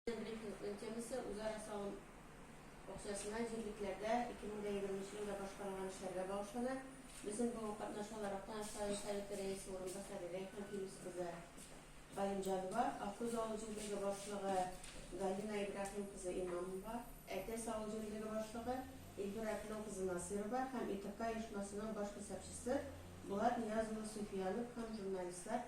Брифингның темасы, үзара салым акчасына җирлекләрдә 2020 елда башкарылган эшләргә багышлана. Безнең бүген катнашалар Актаныш район Советы рәисе урынбасары Рәйхан Филүс кызы Галимҗанова, Аккүз авыл җирлеге башлыгы Галина Ибраһим кызы Имамова, Әтәс авыл җирлеге башлыгы Илбир Әплән кызы Насыйрова һәм ИТК оешмасының баш хисапчысы Булат Нияз улы Суфиянов һәм журналистлар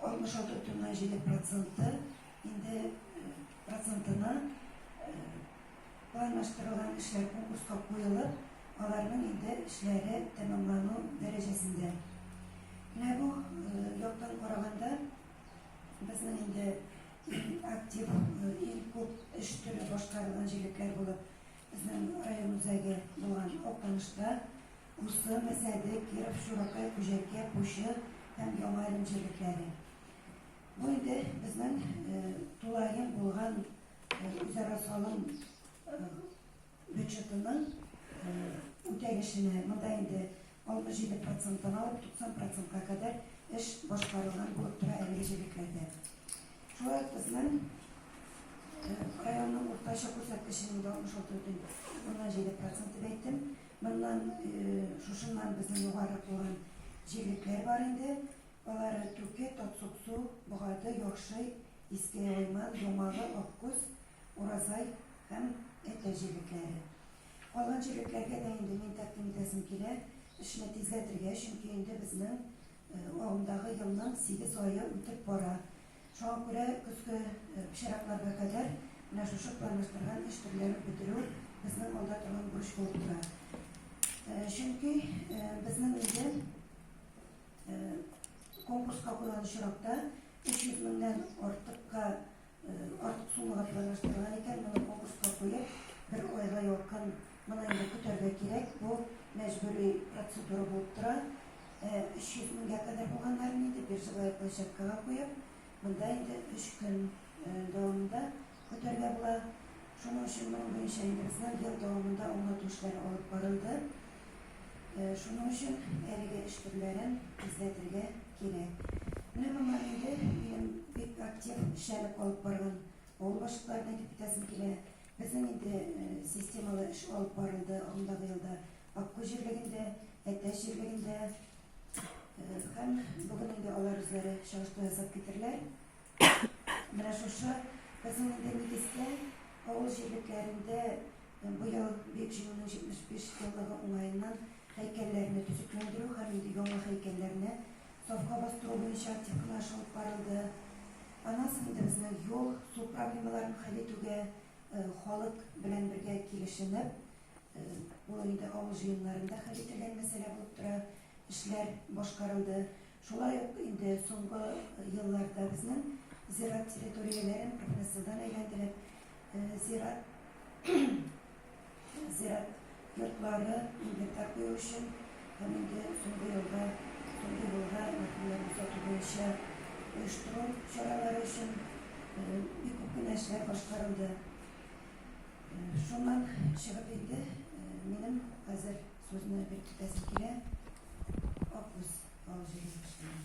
Алтмыш алты бөтеннән җиде проценты инде процентына планлаштырылган эшләр конкурска куелып, аларның инде эшләре тәмамлану дәрәҗәсендә. Менә бу яктан караганда, безнең инде иң актив, иң күп эш төре башкарылган җирлекләр булып, безнең район үзәге булган Актанышта, Усы, Мәсәде, Киров, Чуракай, Күҗәкә, Пучы һәм Яңа Әлем җирлекләре. Бу инде безнең э, тулаем булган э, үзара салым э, бюджетының үтәлешенә. Монда инде 67 проценттан алып 90 процентка кадәр эш башкарылган булып тора әлеге җирлекләрдә. Шулай ук безнең районның уртача күрсәткеченең 66,7 проценты әйттем. Моннан, шушыннан безнең югарырак булган җирлекләр бар инде. Алар Түке, Татсуксу, Богарды, Яхшый, Иске Яман, Ямалы, Аккүз, Уразай һәм Әтә җирлекләре. Калган җирлекләргә дә инде мин тәкъдим итәсем килә, эшне тизләтергә, чөнки инде безнең агымдагы елның 8 ае үтеп бара. Шуңа күрә көзге чиратларга кадәр менә шушы планлаштырган эш төрләрен бетерү безнең алда торган бурыч булып тора. Чөнки безнең инде конкурска куйган очракта 300 меңнән артыкка артык суммага планлаштырган икән, моны конкурска куеп, бер айга якын Моны инде көтәргә кирәк, бу мәҗбүри процедура булып тора. 300 меңгә кадәр булганнарын инде биржевая площадкага куеп, монда инде 3 көн дәвамында көтәргә була. Шуның өчен моның буенча инде безнең ел дәвамында аңлату эшләре алып барылды. Шуның өчен әлеге эш төрләрен тизләтергә кирәк. Менә моңа инде минем бик актив эшләнеп алып барган авыл башлыкларына әйтеп китәсем килә. Безнең инде системалы эш алып барылды агымдагы елда Аккүз җирлегендә, Әтәч җирлегендә һәм бүген инде алар үзләре чагыштыру ясап китерләр. Менә шушы безнең инде нигездә авыл җирлекләрендә бу ел Бөек Җиңүнең 75 еллыгы уңаеннан һәйкәлләрне төзекләндерү һәм инде яңа һәйкәлләрне сафка бастыру буенча актив кенә эш алып барылды. Анасен интерсына юл, су проблемаларын хәл итүгә халык белән бергә килешенеп, ул инде авыл җыеннарында хәл ителгән мәсьәлә булып тора, эшләр башкарылды. Шулай ук инде соңгы елларда безнең зират территорияләрен профнастилдан әйләндереп, зират Зират йортлары инвентарь кую өчен һәм инде соңгы елда төнге юлга мәрхүмнәрне озату буенча оештыру чаралары өчен бик күп кенә эшләр башкарылды. Шуннан чыгып инде минем хәзер сүзне биреп китәсем килә. Аккүз авыл җирлегеннән.